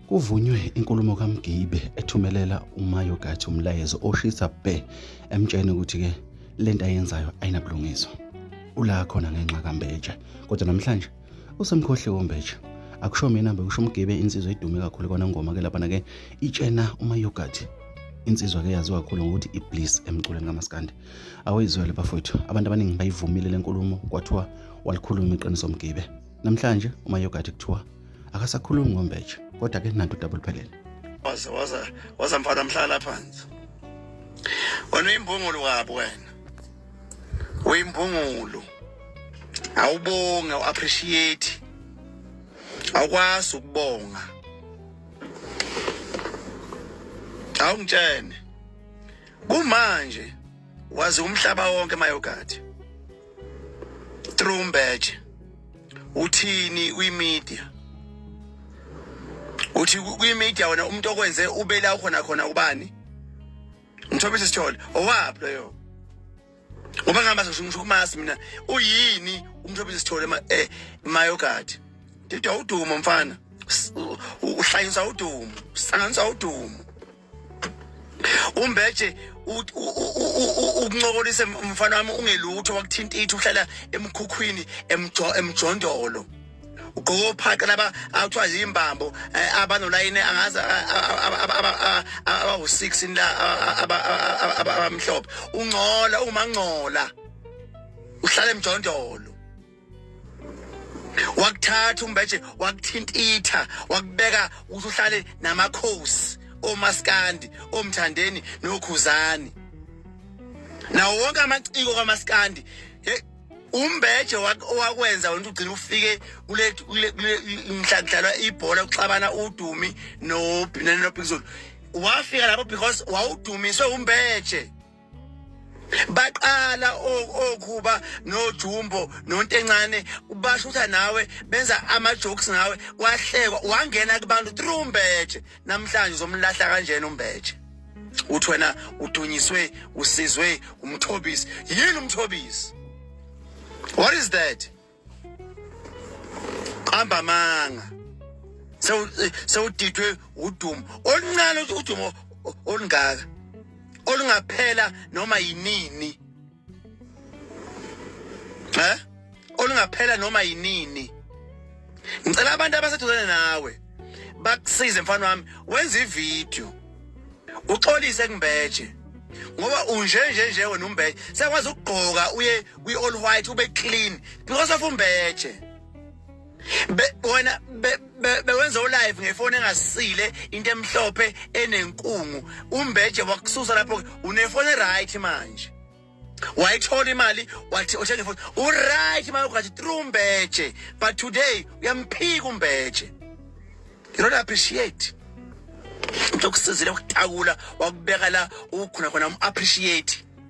Kuvunywe inkulumo kaMgibe ethumelela uMayogathi umlayezo oshisa bhe emtsheni ukuthi ke lento ayenzayo ayinabulungiswa. Ula khona ngenxa kaMbeja kodwa namhlanje usemkhohle woMbeja. Akusho mina bekusho uMgibe insizwa idume kakhulu kona ngoma ke lapha ke itshena uMayogathi insizwa ke yaziwa kakhulu ngokuthi ibliss emculweni kamaskandi awuyizwele bafowethu abantu abaningi bayivumile lenkulumo kwathiwa walikhuluma iqiniso mgibe Namhlanje uma yogathi kuthiwa akasakhulumi ngombeje kodwa ke nanto double phelele. Waze waza waza mfana mhlala phansi. Wena imbungulu wabo wena. Uyimbungulu. Awubonge uappreciate. Awukwazi ukubonga. Awungitshene. Kumanje wazi umhlaba wonke mayogathi. Trumbage uthini kwimedia uthi kwimedia wena umuntu okwenze ubela ukhona khona ubani Mthobisi Sithole owaphi loyo ngoba ngihamba ngisho kumasi mina uyini umthobisi Sithole eh mayogadi didwa udumo mfana uhlanyisa udumo sanganisa udumo umbeje ukuncokolisa umfana wami ungelutho wakuthinta ithi uhlala emkhukhwini emjondolo ugqoke ophaqa laba akuthiwa yimbambo eh, abanolayini angazi abawu-six la abamhlophe ungcola ungumangcola uhlala emjondolo wakuthatha umbeje wakuthintitha wakubeka ukuthi uhlale namakhosi omaskandi omthandeni nokhuzani nawo wonke amaciko kamaskandi umbeje wakwenza wena ugcina ufike kule mhla kudlalwa ibhola kuxabana udumi no no Big Zulu wafika lapho because wawudumiswe umbeje baqala okhuba nojumbo nontencane bashutha nawe benza ama-jokes ngawe wahlekwa wangena kubantu through umbeje namhlanje uzomlahla kanjena umbeje uthi wena udunyiswe usizwe umthobisi yini umthobisi what is that qamba amanga sewudidwe udumo oluncane udumo olungaka olungaphela noma yinini he olungaphela noma yinini ngicela abantu abaseduzane nawe bakusize mfana wami wenza ivideo uxolise kumbeje ngoba unje nje nje wena umbeje sekwazi ukugqoka uye kwi all white ube clean because of umbeje be wena bewenza u live ngefoni engasile into emhlophe enenkungu umbeje wakususa lapho unefoni right manje wayithola imali wathi othenga ifoni u right manje ugathi through umbeje but today uyamphika umbeje you don't appreciate into kusizile ukutakula wakubeka la ukhona khona um appreciate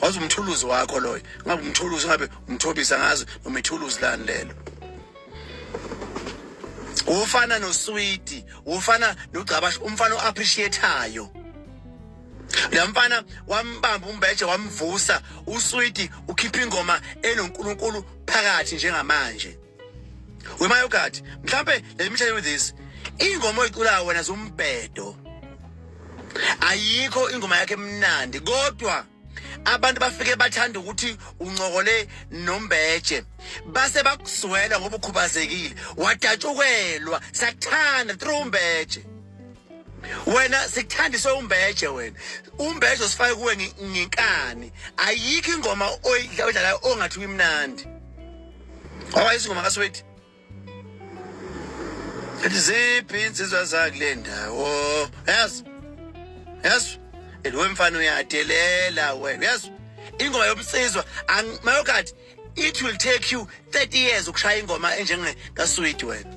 waze umthuluzi wakho loyo ngabe umthuluzi ngabe umthobisa ngazi noma ithuluzi lani lelo ufana noswidi ufana nogcabasha umfana oappreciatayo la mfana wambamba umbeje wamvusa uswidi ukhipha ingoma enoNkulunkulu phakathi njengamanje wemayogadi mhlampe let me tell you this ingoma oyiculayo wena zombhedo ayikho ingoma yakhe emnandi kodwa abantu bafike bathanda ukuthi uncokole nombeje base bakuzwela ngoba ukhubazekile wadatshukelwa sakuthanda through umbeje wena sikuthandiswe umbeje wena umbeje osifake kuwe nginkani ayikho ingoma oyidlalayo ongathi uyimnandi Ngoba isingoma kaSweet. Kanti ziphi insizwa zakule ndawo? Yes. Yes. Lo mfana uyadelela wena. Yes. Ingoma yobusizwa mayokathi it will take you 30 years ukushaya ingoma enjenge kaSweet wena.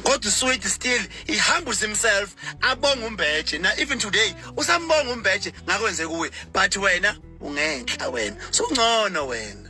kodwa usweet still he humbles himself abonga umbeje na even today usambonga umbeje ngakwenzeka kuwe but wena ungenhla wena sungcono wena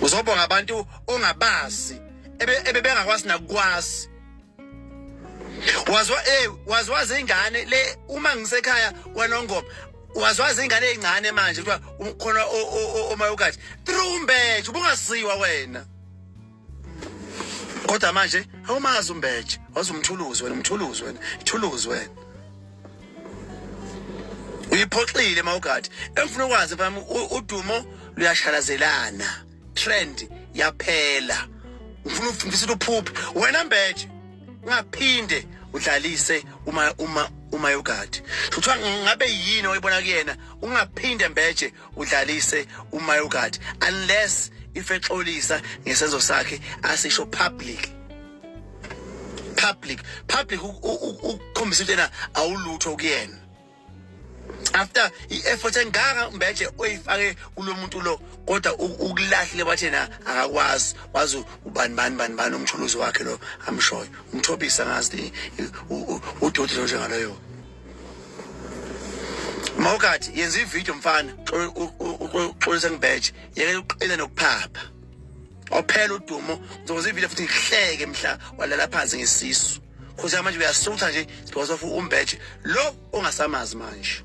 uzobonga abantu ongabazi ebebengakwazi nakukwazi wazwa eh wazwaza ingane le uma ngisekhaya kwanongoma wazwaza ingane ezincane manje kuthiwa khona omayokathi true mbethu ubungasiwa wena kodwa manje awumazi umbeje wazi umthuluzi wena umthuluzi wena ithuluzi wena uyiphoxile mawugadi engifuna ukwazi mfana udumo luyashalazelana trend yaphela ngifuna ufundisa ukuthi uphuphe wena mbeje ungaphinde udlalise uma uma uma yogadi kuthiwa ngabe yini oyibona kuyena ungaphinde mbeje udlalise uMario Kart unless if exolisa ngesenzo sakhe asisho public public public ukukhombisa ukuthi yena awulutho kuyena after i-effort engaka mbeje oyifake kulo muntu lo kodwa ukulahlile bathi yena akakwazi wazi ubani bani bani bani umthuluzi wakhe lo amshoyo umthobisa ngazi udoti lo njengaloyo Mawukathi yenza ivideo mfana uxolisa ngibheje yeke uqine nokuphapha ophela udumo ngizokwenza ivideo futhi ngihleke mhla walala phansi ngesisu khosi manje uyasutha nje because of umbheje lo ongasamazi manje